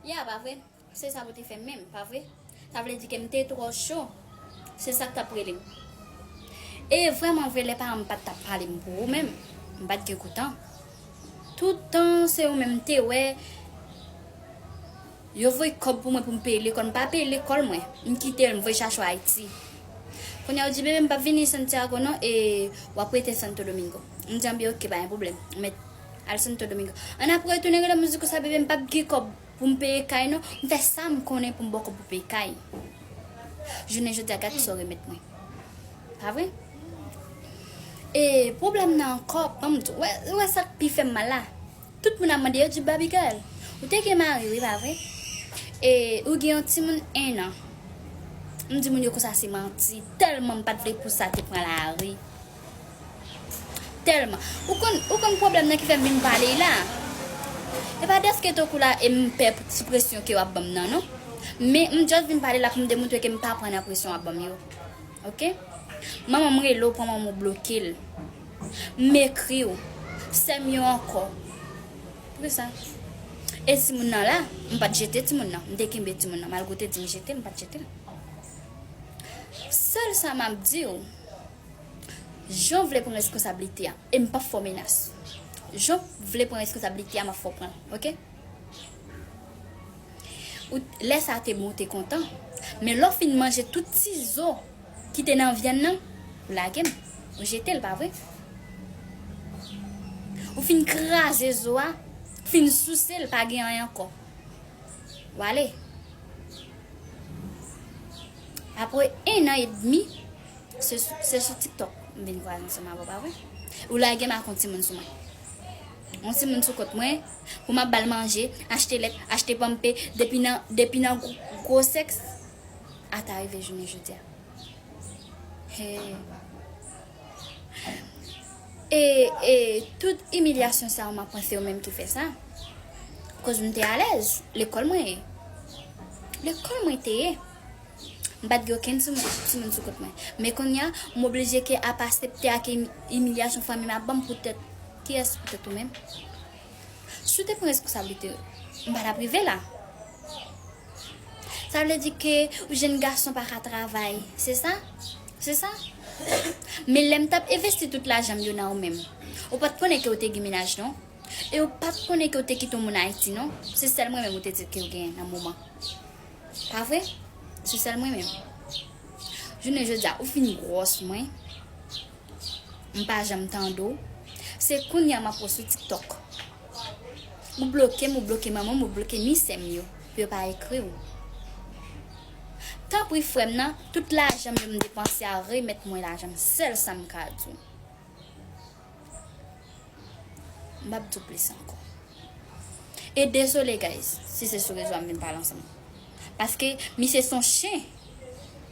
Ya, pa vre? Se sa pou te fè menm, pa vre? Sa vle di ke m te twò cho. Se sa k t ap rele m. E vrèman vre, lè paran m pa t ap pale m pou ou menm, m pa t gen kou tan. Tout tan, se ou menm m te wè. Yo voye kòb pou mwen pou m peye lekòl. M pa peye lekòl mwen. M kite l, m voye chache w Ayiti. Kounye a ou di, Bebe, m p ap vini Santiago non, e w ap rete Santo Domingo. M di, Anben, oke, pa gen pwoblèm. Al santo domingo. An ap retounen rele mouziko sa bebe m pap gen kob poum peye kay non m fè sam konnen poum bò kob pou peye kay jounen jodia gad kisaw remet mwen pa vre e pwoblèm nan ankò banm di ou wè sak pi fèm mal la tout moun ap mande yo di baby girl ou te gen mari wi pa vre e ou gen yon timoun 1 an m di moun yo konsa se manti tèlman m pat vle pou sa te pran lari. Telman. Ou konn ou konn pwoblèm nan ki fèm vin pale y la? E pa dèske to kou la e m pè pou ti presyon ke wap banm nan non. Men m just vin pale la pou m demoutre ke m pa pran nan presyon wap banm yo. Ok? Manman m rele w pran manman w bloke l. M ekri w. Sè m yo ankò. Pou ki sa? E ti moun nan la? M pat jete ti moun nan. M te kenbe ti moun nan. Malgre w te di m jete l, m pat jete l. Sèl sa map di w. Jean vle pran reskonsablite a e m pap fè w menas. Jean vle pran reskonsablite a map fè w pran l ok. Ou lè sa te bon ou te kontan men lè w fin manje tout ti zo ki te nan vyann nan ou lage l ou jete l pa vre. Ou fin kraze zo a ou fin souse l pa gen anyen ankò w ale. Apre 1 an edmi. Se sou tiktok m vin kwaze m sèm avèw pa vre? Ou lage m ak yon timoun sou mwen Yon timoun sou kont mwen Pou m ap bal manje, achte lèt, achte panmpe Depi nan depi nan gwo sèks Ata rive jounen jodia Hee E e tout imilyasyon sa ou m ap pran se ou menm ki fè sa Koz m te alèz Lekòl mwen ye Lekòl mwen te ye M pa t gen okenn timoun sou kont mwen. Men konnya, m oblije ke ap asepte ak imilyasyon fanmi m ap ban m poutèt kiyès? Poutèt ou menm. Si w te pran responsablite w, m pa t ap rive la. Sa vle di ke yon jenn gason pa ka travay, se sa? Se sa? Men lè m t ap envesti tout lajan m yo nan ou menm, ou pa t konnen ke ou te gen mennaj non. E ou pa t konnen ke ou te kite yon moun Ayiti non. Se sèl mwen menm ou te di ke ou gen nan moman. Pa vre? Se sèl mwen menm. Jounen jodi a ou fin gwòs mwen. M pa janm tande w. Se kounye a m ap wè w sou TikTok. Ou bloke m, ou bloke manman m, ou bloke ni sè m yo pou yo pa ekri w. Tanpri frè m nan, tout lajan m yo m depanse a remèt mwen lajan m. Sèl sa m ka di w. Map diw plis ankò. E dezole guys si se sou rezo a m vin pale ansanm. Paske misye son chen.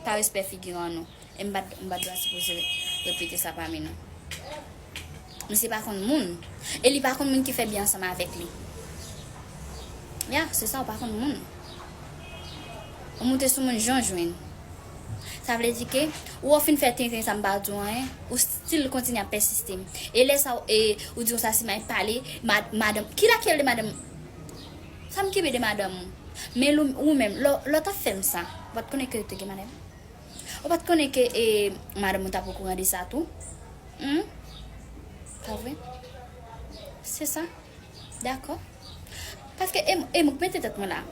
Pa respè figiran an non. E m pat dwa sipoze repete sa pami nou. Misye pa konn moun. E li pa konn moun ki fè byen ansanm avèk li. Ya se sa ou pa konn moun. Ou moute sou moun jan w jwenn. Sa vle di ke ou ou fin fè tenten sa m pa diw anyen. Si l kontinye ap pèsiste. E lè sa w e ou di yon sa Simay pale ma madanm ki la ki rele madanm Sa m kenbe de madanm ou Men lou ou menm lè w lè w t ap fè m sa Ou pa t konnen ke ou te gen madanm Ou pa t konnen ke e madanm ou t ap okouran de sa tou Hum Pa vre Se sa Dakò Paske e e m k mete tèt mwen la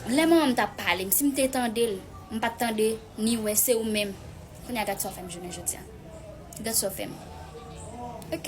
Lè manman m t ap pale m si m te tande l M pa t tande ni wè se ou menm Kounye a gad sa w fè m jounen jodi a Gad sa w fè m. Ok.